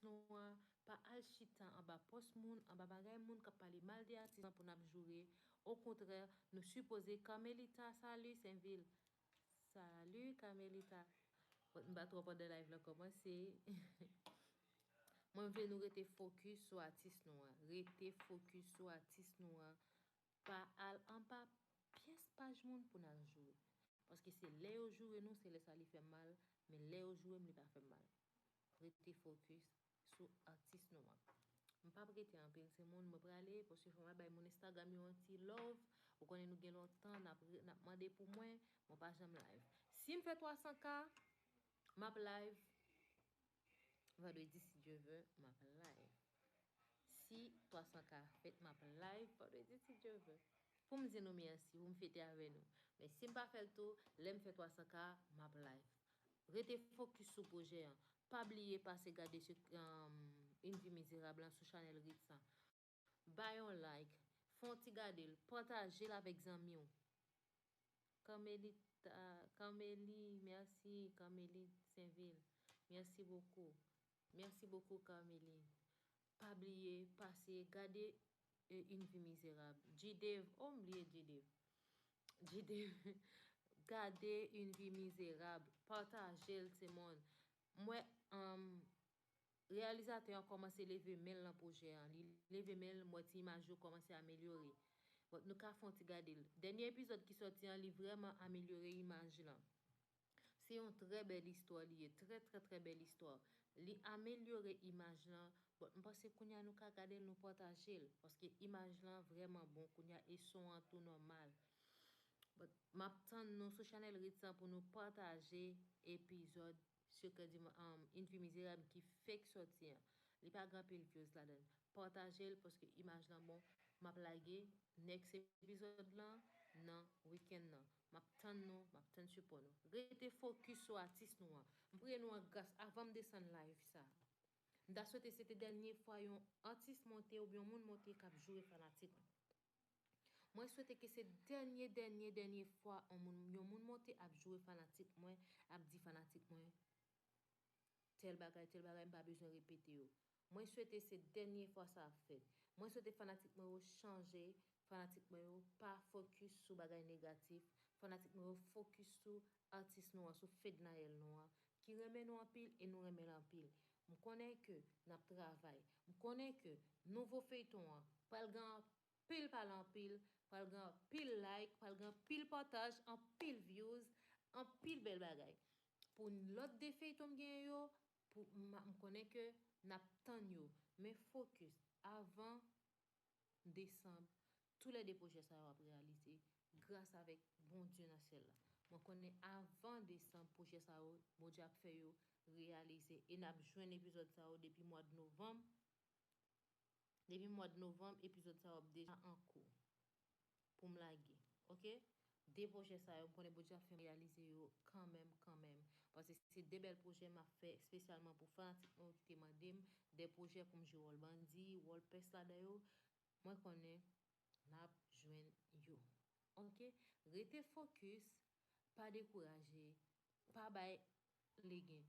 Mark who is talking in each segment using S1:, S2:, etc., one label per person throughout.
S1: nou an pa al chita anba pòs moun, anba bagay moun kap pale mal de atis lan pou nap joure, okontrè nou sipoze Carmelita salut Saintville Salut Carmelita Bon m pa twò pandan live lan kòmanse Mwen vle nou rete fokis sou atis nou an rete fokis sou atis nou an pa al anba pyès paj moun pou nal joure paske se lè yo joure nou se lè sa li fè mal men lè yo joure m li pa fè m mal rete focus sou atis nou an. M pap rete anpil timoun mwen prale paske fòk mwen bay moun Instagram yo yon ti love. Ou konnen nou gen lontan nap nap mande pou mwen, mwen pa janm live. Sim fè 300 k map live vendredi si Dieu veut map live. si 300 ka fèt map live vandredi si Dye vle poum di nou mèsi poum fete avè nou men sim pa fèl tou lèm fè 300 ka map live rete fokis sou pwojè an pa bliye pase gade une vie mizerab lan sou chanèl Ritz an bay yon like fè yon ti gadel patajel avèk zanmiw Carmelita Carmeli mèsi Carmelite Sainvil mèsi bokou Merci beaucoup Carmely pa bliye pase gade une vie miserable G-Dave oh m bliye G-Dave G-Dave gade une vie miserable patajel ti moun m wè humm reyalizatè an kòmanse leve menl nan pwojè an li leve menl m wè ti imaj yo kòmanse amelyore but nou ka fon ti gadel dènye epizòd ki sòti an li vrèman amelyore imaj lan. Se yon trè bèl istwa li ye, trè trè trè bèl istwa. Li amelyore imaj lan, but m panse kounya nou ka gade l nou pataje l, paske imaj lan vrèman bon kounya e son an tou nòmal. But m ap tann nou sou chanèl Ritz lan pou nou pataje epizòd Secret du um Une vie misérable ki fek sòti an. Li pa gen anpil vyoz ladan. Pataje l paske imaj lan bon. M ap lage next epizòd lan nan weekend nan. Map tann nou, map tann sipò nou. Rete fokis sou atis nou an. M priye nou an gras avan m desann live sa. M ta swete se te dènye fwa yon atis monte oubyen yon moun monte kap joure fanatik ou. Mwen swete ke se dènye dènye dènye fwa yon moun monte ap joure fanatik mwen, ap di fanatik mwen tèl bagay tèl bagay m pa bezwen repete yo. Mwen swete se dènye fwa sa ap fèt. Mwen swete fanatik mwen yo chanje, fanatik mwen yo pa fokis sou bagay negatif, fanatik mwen yo fokis sou atis nou an, sou Fednaelle nou an, ki renmen nou anpil e nou renmen l anpil. M konnen ke n ap travay. M konnen ke nouvo feyton an pral gen anpil pale anpil, pral gen anpil like, pral gen anpil pataj, anpil vyouz, anpil bèl bagay. Pou lòt 2 feyton m genyen yo, Pou m konnen ke n ap tann yo. Men focus, avan desanb, tou lè 2 pwojè sa yo ap reyalize, gras avèk Bondye nan syèl la. Mwen konnen avan desanb pwojè sa yo, Bondye ap fè yo reyalize. E n ap jwenn epizòd sa yo depi mwad novanm, depi mwad novanm epizòd sa yo ap deja an kou. poum lage ok de projè sa yo m konnen Bondye ap fèm reyalize yo kanmenm kanmenm paske se de bèl projè map fè espesyalman pou fanatik mwen yo ki te mandem de projè poum jwe wòl bandi wòl pès ladan yo mwen konnen nap jwenn yo ok rete focus pa dekouraje pa bay legen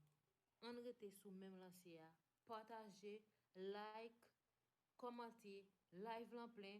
S1: ann rete sou menm lanse a pataje like kòmante live lan plen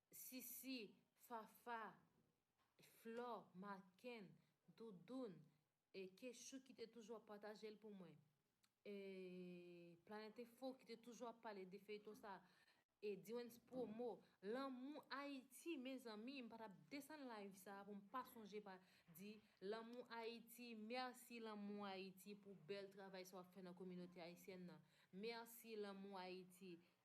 S1: Sisi, Fafa, Flò, Makenn, Doudoun, Kechou ki te toujou ap pataje l pou mwen. Planètenfo ki te toujou ap pale de feyton sa. E Diwens Pwomo, Lanmou Ayiti mezanmi m pa t ap desann live sa pou m pa sonje pa di Lanmou Ayiti mèsi Lanmou Ayiti pou bèl travay sa w ap fè nan kominote ayisyèn nan. Mèsi Lanmou Ayiti.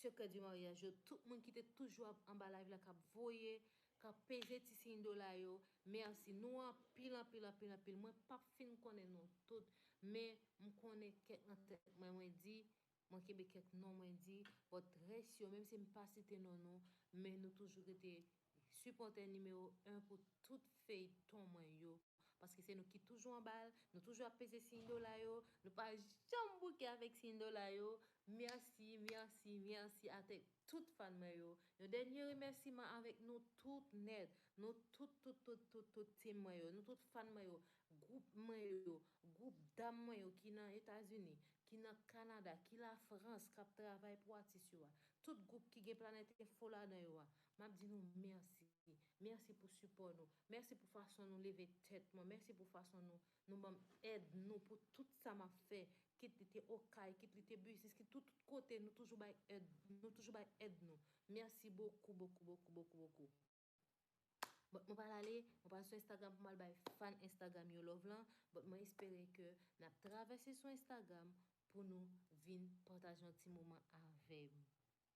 S1: Secret du mariage yo tout moun ki te toujou ap anba live la kap voye kap peze ti siy dola yo merci nou anpil anpil anpil anpil mwen pap fin konnen nou tout men m konnen kèk nan tèt mwen mwen di mwen kenbe kèk non mwen di but rès yo menm si m pa site non nou men nou toujou rete Sipòtè nimewo 1 pou tout feyton mwen yo paske se nou ki toujou anbal nou toujou ap peze siy dola yo nou pa janm bouke avèk siy dola yo merci merci merci atèk tout fan mwen yo yon dènye remèsiman avèk nou tout nèt nou tout tout tout tout tout team mwen yo nou tout fan mwen yo gwoup mwen yo gwoup dam mwen yo ki nan etazini ki nan kanada ki lafrans kap travay pou atis yo a tout gwoup ki gen planèt enfo ladan yo a Map di nou mèsi. Mèsi pou sipò nou. Mèsi pou fason nou leve tèt mwen. Mèsi pou fason nou nou banm èd nou pou tout sa map fè. Kit li te okay, kit li te business, kit tout kote nou toujou bay èd nou toujou bay èd nou. Mèsi bokou bokou bokou bokou bokou. But mwen pral ale, mwen pral sou Instagram pou mal bay fan Instagram yo love lan. But mwen espere ke nap travèse sou Instagram pou nou vin pataje yon ti moman avèm.